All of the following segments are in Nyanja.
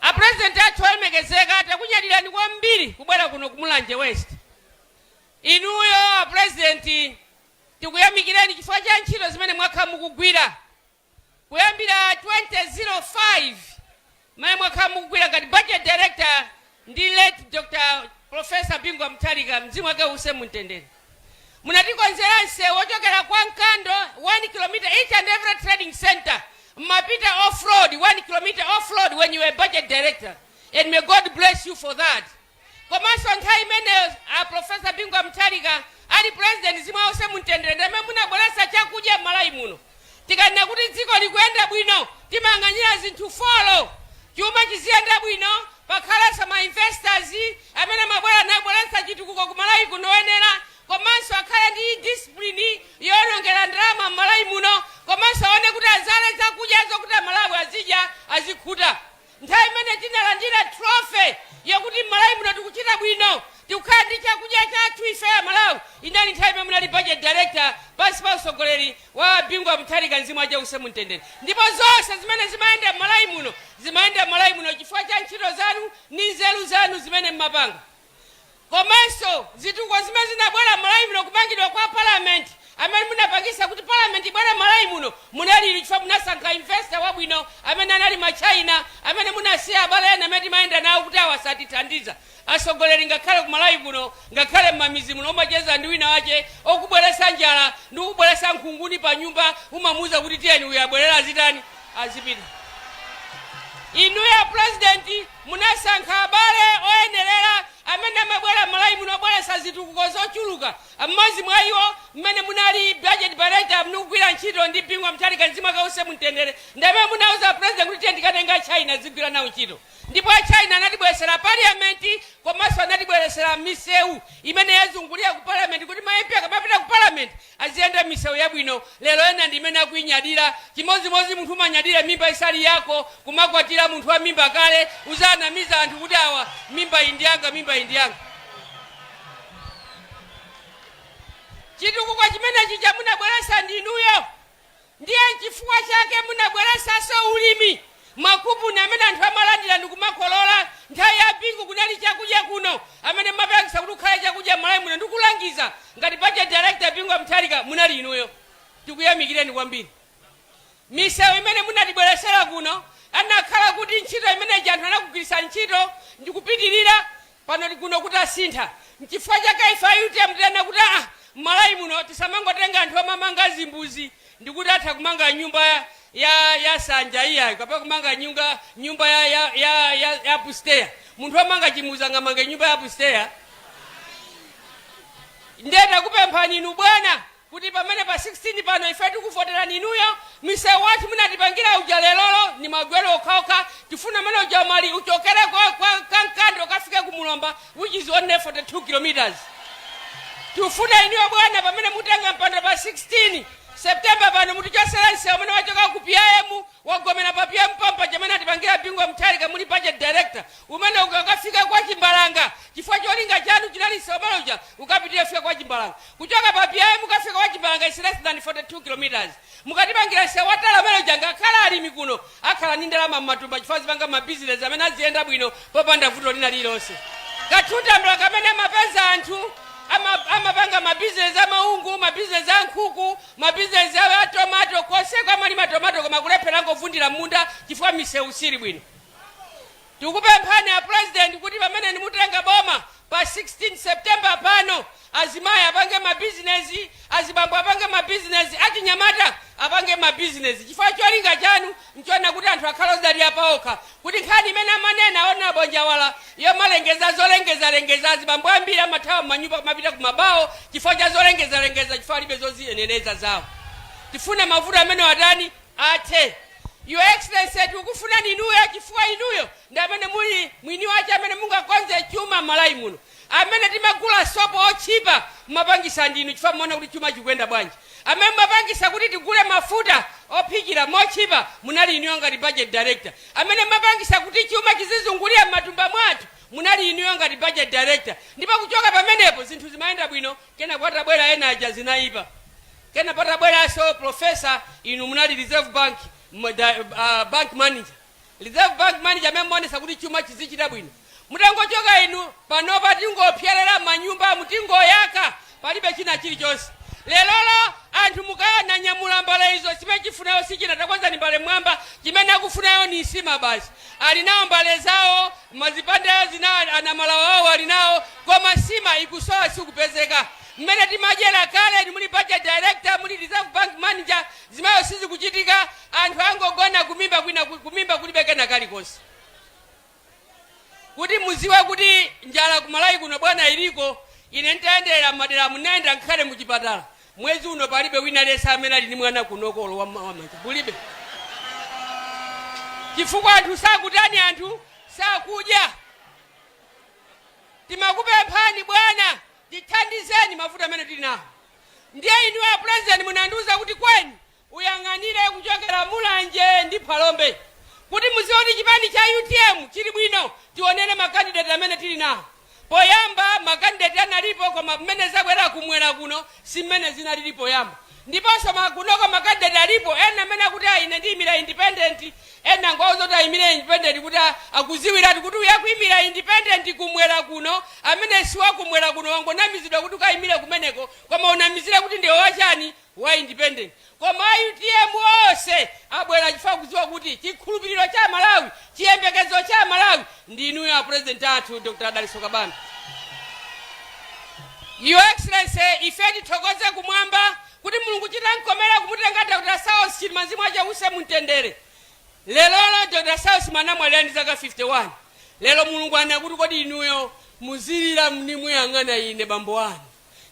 A president athu olemekezeka takunyadilani kwambiri kubwera kuno ku Mulanje West. Inuyo a president tikuyamikireni chifukwa cha ntchito zimene mwakhala mukugwira kuyambira 2005 mmene mwakhala mukugwira ngati budget director ndi late Dr Prof Bingu wa Mutharika mzimu wake uwuse mu mtendere munatikonzera nsewu wochokera kwa Nkando 1 kilometer each and every trading center mmapita off road 1 kilometer off road when you were budget director and may God bless you for that komanso nthawi imene Professor Bingu wa Mutharika ali president mzimu wake uwuse mu mtendere ndamene munabweretsa chakudya m'Malawi muno Tikanena kuti dziko likuyenda bwino timayang'anira zinthu folo, chuma chiziyenda bwino, pakhalenso ma investors amene amabwera nabweretsa chitukuko ku Malawi kuno oyenera komanso akhale ndi discipline yoonongera ndalama m'Malawi muno komanso aone kuti azale zakudya zokuti Amalawi azidya azikhuta. Nthawi imene tinalandira trophy yakuti m'Malawi muno tikuchita bwino, tikukhala ndi chakudya chathu ife Amalawi, inali nthawi imene munali Budget Director pansi pa utsogoleri wa a Bingu wa Mutharika mzimu wache uuse mumtendere. Ndipo zonse zimene zimayenda m'Malawi muno zimayenda m'Malawi muno chifukwa cha ntchito zanu ndi nzeru zanu zimene mmapanga. komanso zitukuko zimene zinabwera m'Malawi muno kumangidwa kwa parliament amene munapangisa kuti parliament ibwere m'Malawi muno munali inu chifukwa munasankha investor wabwino amene anali ma China amene munasiya abale ena amene timayenda nawo kuti awa satithandiza atsogoleri ngakhale ku Malawi kuno ngakhale mmamizi muno umacheza ndi wina wache okubweresa njala ndi kubweresa nkhunguni pa nyumba umamuuza kuti tiyeni uyu abwerera azitani azipita inuyo a president Munasankha abale oyenerera amene amabwera m'Malawi muno obweretsa zitukuko zochuluka. M'modzi mwa iwo m'mene munali budget director mukugwira ntchito ndi Bingu wa Mutharika mzimu wake uuse mumtendere ndi pamene munauza president kuti tiyeni tikatenge a China tizigwira nawo ntchito ndipo a China anatibweretsera parliament komanso anatibweretsera miseu imene yazungulira ku parliament kuti ma MP akamapita ku parliament aziyenda m'misewu yabwino, lero ena ndi imene akuinyadira, chimodzimodzi munthu umanyadira mimba isali yako, kumakwatira munthu wa mimba kale, uzanamiza anthu kuti awa mimbayi ndi yanga mimbayi ndi yanga. Chitukuko chimene chija munabweretsa ndi inuyo. Ndiye nchifukwa chake munabweresanso ulimi, makupuni amene anthu amalandira ndikumakolola. Nthawi ya Bingu kunali chakudya kuno, amene mumapangisa kuti kukhale chakudya Mmalawi muno ndikulangiza ngati budget director Bingu Wa Mutharika munali inuyo. Tikuyamikireni kwambiri. Misewu imene munatibweresera kuno anakhala kuti ntchito imene ija anthu anakugwirisa ntchito ndikupitirira Pano kuno kuti asintha. Nchifukwa chake ife a utm tinena kuti aa mmalawi muno tisamangotenga anthu omanga zimbuzi ndikuti atha kumanga nyumba ya ya sanja iyayi kapena kumanga nyunga nyumba ya ya ya ya ya upstairs. Munthu omanga chimbuzi angamange nyumba ya upstairs? Nde takupemphani inu bwana kuti pamene pa 16 pano ife tikuvoterani inuyo, mseu wathu munatipangira uja lerolo ndi magweru okhaokha, tifuna umene uja Umali uchokere kwa kwa Nkando ukafike ku Mulomba which is only 42 km. Tikufuna inuyo bwana pamene mutenga mpando pa 16 September pano mutichotsere mseu umene wachoka ku PIM wagomera pa PIM pompo uja umene atipangira Bingu wa Mutharika muli budget director, umene uja ukafike kwa Chimbalanga chifukwa cholinga chanu chinali mseu umene uja ukapitire kufika kwa Chimbalanga. Kuchoka pa PIM ukafika kwa Chimbalanga is less than 42 km. Mukatipangira nsewu wa tala umene uja ngakhale alimi kuno akhala ndi ndalama m'matumba chifukwa azipanga ma business amene aziyenda bwino popanda vuto lina lililonse. Ka two tambala kamene amapeza anthu ama, amapanga ma business a maungu, ma business a nkhuku, ma business a a tomato konseko amalima tomato koma kulephera angovundira m'munda chifukwa misewu siili bwino. Tikupemphani a President kuti pamene nimutenga boma pa 16 September pano, azimai apange ma business, azibambo apange ma business, achinyamata apange ma business chifukwa cholinga chanu nchonena kuti anthu akhale ozidalira paokha kuti nkhani imene amanena a Hon Njawala yomalengeza zolengezalengeza azibambo ambiri amathawa mmanyumba kumapita ku ma bawo chifukwa cha zolengezalengeza chifukwa alibe zoziyenereza zawo. Tifuna mavuto amenewa atani? Athe. Your Excellency tikukufunani inuyo chifukwa inuyo ndi amene muli mwini wache amene mungakonze chuma Malawi muno. Amene timagula sopo otchipa mumapangisa ndinu chifukwa mumaona kuti chuma chikuyenda bwanji. Amene mumapangisa kuti tigule mafuta ophikira motchipa munali inuyo ngati Budget Director. Amene mumapangisa kuti chuma chizizungulira m'matumba mwathu munali inuyo ngati Budget Director. Ndipo kuchoka pamenepo zinthu zimayenda bwino kenaka patabwera ena aja zinaipa. Kena patabweraso professor inu munali reserve bank bank manager reserve bank manager amene mumaonesa kuti chuma chizichita bwino mutangochoka inu panopa tingopyerera mmanyumbamu tingoyaka palibe china chilichonse lerolo anthu mukananyamula mbale izo chimene akufunayo sichina takwezani mbale mmwamba chimene akufunayo ni nsima basi ali nawo mbale zawo mazipande zina ana Malawi awo ali nawo koma nsima ikusowa sikupezeka Mmene timadyera kale muli budget director muli reserve bank manager zimayo sizikuchitika anthu angogona kumimba kumimba kulibe kena kalikonse kuti muziwe kuti njala ku Malawi kuno bwana iliko ine ntayendera madera munayenda nkhale mu chipatala mwezi uno palibe wina yense amene ali ndi mwana kunokolo wa wa manja kulibe chifukwa anthu sakutani anthu sakudya timakupemphani bwana Tithandizeni mavuto amene tili nawo. Ndiye inuyo a President munandiuza kuti Kweni uyang'anire kuchokera Mulanje ndi Phalombe kuti muzione chipani cha utm chili bwino. Tionere ma candidate amene tili nawo. Poyamba ma candidate analipo koma mmene zakwera kumwera kuno si mmene zinalili poyamba. Ndiponso ma, kunoko ma candidate alipo ena amene akuti ayi ine ndiyimira independent, ena angowauza kuti ayimire independent kuti a, akuziwiratu kuti uyu akuyimira independent kumwera kuno, amene siwakumwera kuno wangonamizidwa kuti ukayimire kumeneko koma unamizire kuti ndiwe wa chani, wa independent. Koma a utm onse abwera chifukwa akudziwa kuti chikhulupiriro cha Amalawi, chiyembekezo cha Amalawi ndi inuyo a president athu Dr. Dalitso Kabambe. Your Excellency, ife tithokoze kumwamba kuti mulungu chitamkomera kumutenga Dr. Saulos Chilima Mzimu wache uuse mumtendere. Lerolo Dr. Saulos Chilima anamwalira ndi zaka 51. Lero mulungu anena kuti kodi inuyo muzilira muli muyang'ana ine bambo anu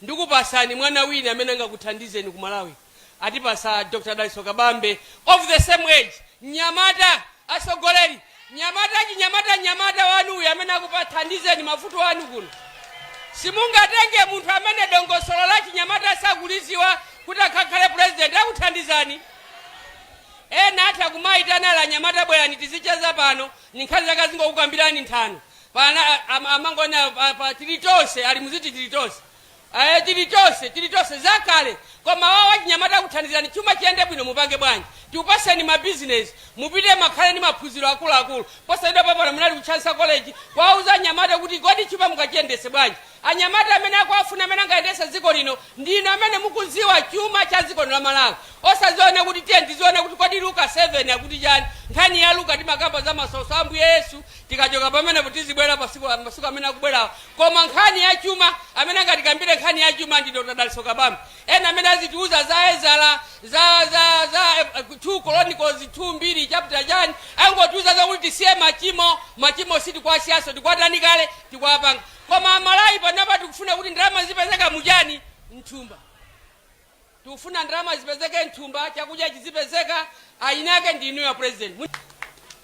ndikupasani mwana wina amene angakuthandizeni ku Malawi. atipasa Dr Dalitso Kabambe of the same age mnyamata atsogolere mnyamata achinyamata mnyamata wanu uyu amene akuthandizeni mavuto anu kuno simungatenge munthu amene dongosolo la chinyamata sakuliziwa kuti akakhale president akuthandizani ena atha kumayitana anyamata bwerani tizicheza pano ndi nkhani zake azingokukambirani nthano pana am- amangonena pa- pa tili tonse ali muziti tili tonse Eee tili tonse tili tonse zakale koma awa achinyamata akuthandizani chuma chiyende bwino mupange bwanji tikupaseni ma business mupite mukakhale ndi maphunziro akuluakulu posachedwapa pano munali ku Chancellor College kuwauza anyamata kuti kodi chuma mungachiyendese bwanji anyamata amene akuwafuna amene angayendese dziko lino ndinu amene mukuziwa chuma cha dziko lino la malawi osaziona kuti tiyeni tiziona kuti kodi luka 7 akuti chani nkhani ya luka timakamba za masautso a ambuye yesu tikachoka pamenepo tizibwera masiku amene akubwerawa Koma nkhani ya chuma, amene angatikambire nkhani ya chuma ndi Dr. Dalitso Kabambe. Ena amene azitiuza za Ezara, za, za, za eh, 2 Chronicles 2 mbiri chapter chani, angotiuza zakuti tisiye machimo, machimo sitikuwasiyanso, tikuwatani kale, tikuwapanga. Koma Amalawi panapa tikufuna kuti ndalama zipezeke muchani, mthumba. Tikufuna ndalama zipezeke mthumba, chakudya chizipezeka, eyinake ndi inuyo president. Mu-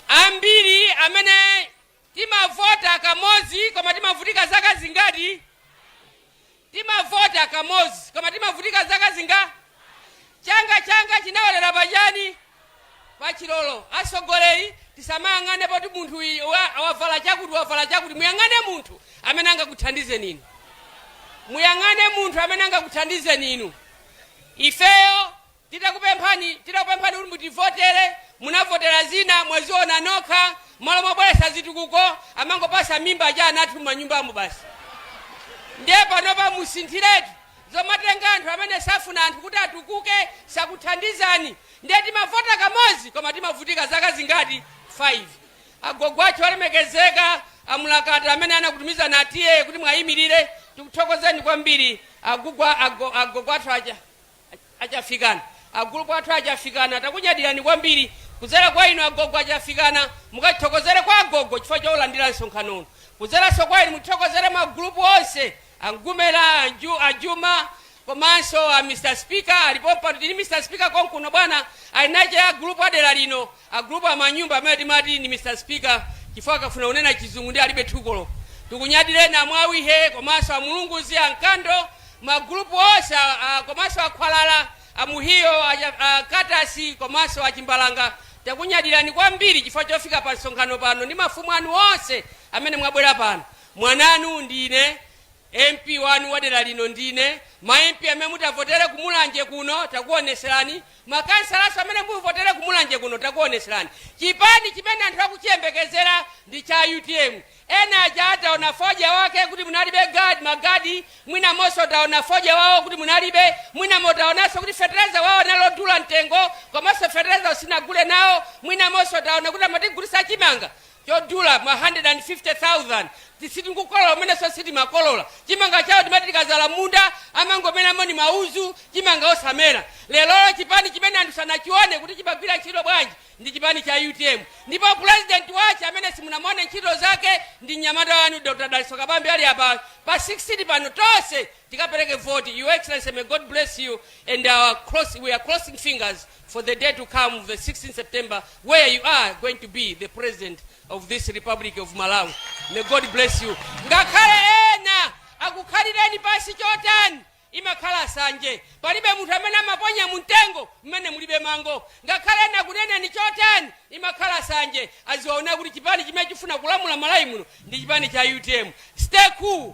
ambiri amene Timavota kamodzi koma timavutika zaka zingati? Timavota kamodzi koma timavutika zaka zinga? Changa changa chinaolera pa chani? Pa chigolo. Atsogoleri tisamayang'ane poti munthu uyi wa- wavala chakuti wavala chakuti. Muyang'ane munthu amene angakuthandizeni inu. Muyang'ane munthu amene angakuthandizeni inu. Ifeyo Titakupemphani titakupemphani kuti mutivotele munavotela zina mwaziona nokha mmalo mobwelesa zitukuko amangopasa mimba aja ana athu mmanyumbamu basi ndiye panopa musinthiletu zomatenga anthu amene safuna anthu kuti atukuke sakuthandizani ndiye timavota kamozi koma timavutika zaka zingati 5 agogo athu alemekezeka amulakata amene anakutumizani a T/A kuti mwayimilile tikuthokozeni kwambiri agugwa ago- agogo athu aja Achafikana. A gulupu athu a Chafikana takunyadirani kwambiri. Kuzera kwa inu agogo a Chafikana mukatithokozere kwa agogo chifukwa choulandira msonkhano uno. Kuzeranso kwa inu mutithokozere ma gulupu onse a Mgumela, a Nju- a Juma komanso a Mr. Speaker alipo pano tili ndi Mr. Speaker konkuno bwana a Inache a gulupu a dera lino A gulupu a Mwanyumba amene timati ndi Mr Speaker chifukwa akafuna kunena chizungu ndiye alibe thukolo. Tikunyadireni a Mwawihe komanso a Mulunguzi, a Nkando, ma gulupu onse a a komanso a Khwalala, a Muhiyo, a Cha a Katasi komanso a Chimbalanga takunyadirani kwambiri chifukwa chofika pa msonkhano pano ndi mafumu anu onse amene mwabwera pano. Mwananu ndine MP wanu wa dera lino ndine, ma MP amene mutavotere ku Mulanje kuno takuoneserani, makhansalanso amene muvotere ku Mulanje kuno takuoneserani. Chipani chimene anthu akuchiyembekezera ndi cha utm. Ena aja ataona fodya wake kuti munalibe ma guard, mwinamonso ataona fodya wawo kuti munalibe, mwinamo taonanso kuti fertilizer wawo anali odula mtengo komanso fertilizer simunagule nawo, mwinamonso taona kuti amatigulitsa chimanga. chodula ma 150,000 tisiti n'kukolola komwenso sitimakolola chimanga chawo timati tikazala munda amangomeramo ni mauzu chimanga osamera lerolo chipani chimene anthu sanachione kuti chimagwira ntchito bwanji ndi chipani cha utm ndipo president wache amene simunamone ntchito zake ndi mnyamata wanu dr daliso kabambe ali apa pa 16 pano tonse tikapereke vote your excellency may God bless you and our cross we are crossing fingers for the day to come the 16 September where you are going to be the president of this republic of Malawi may God bless you ngakhale ena akukhalireni pasi chotani imakhala sanje palibe munthu amene amaponya mumtengo mmene mulibe mango ngakhale ena akuneneni chotani imakhala sanje aziwaona kuti chipani chimene chifuna kulamula Malawi muno ndi chipani cha utm stay cool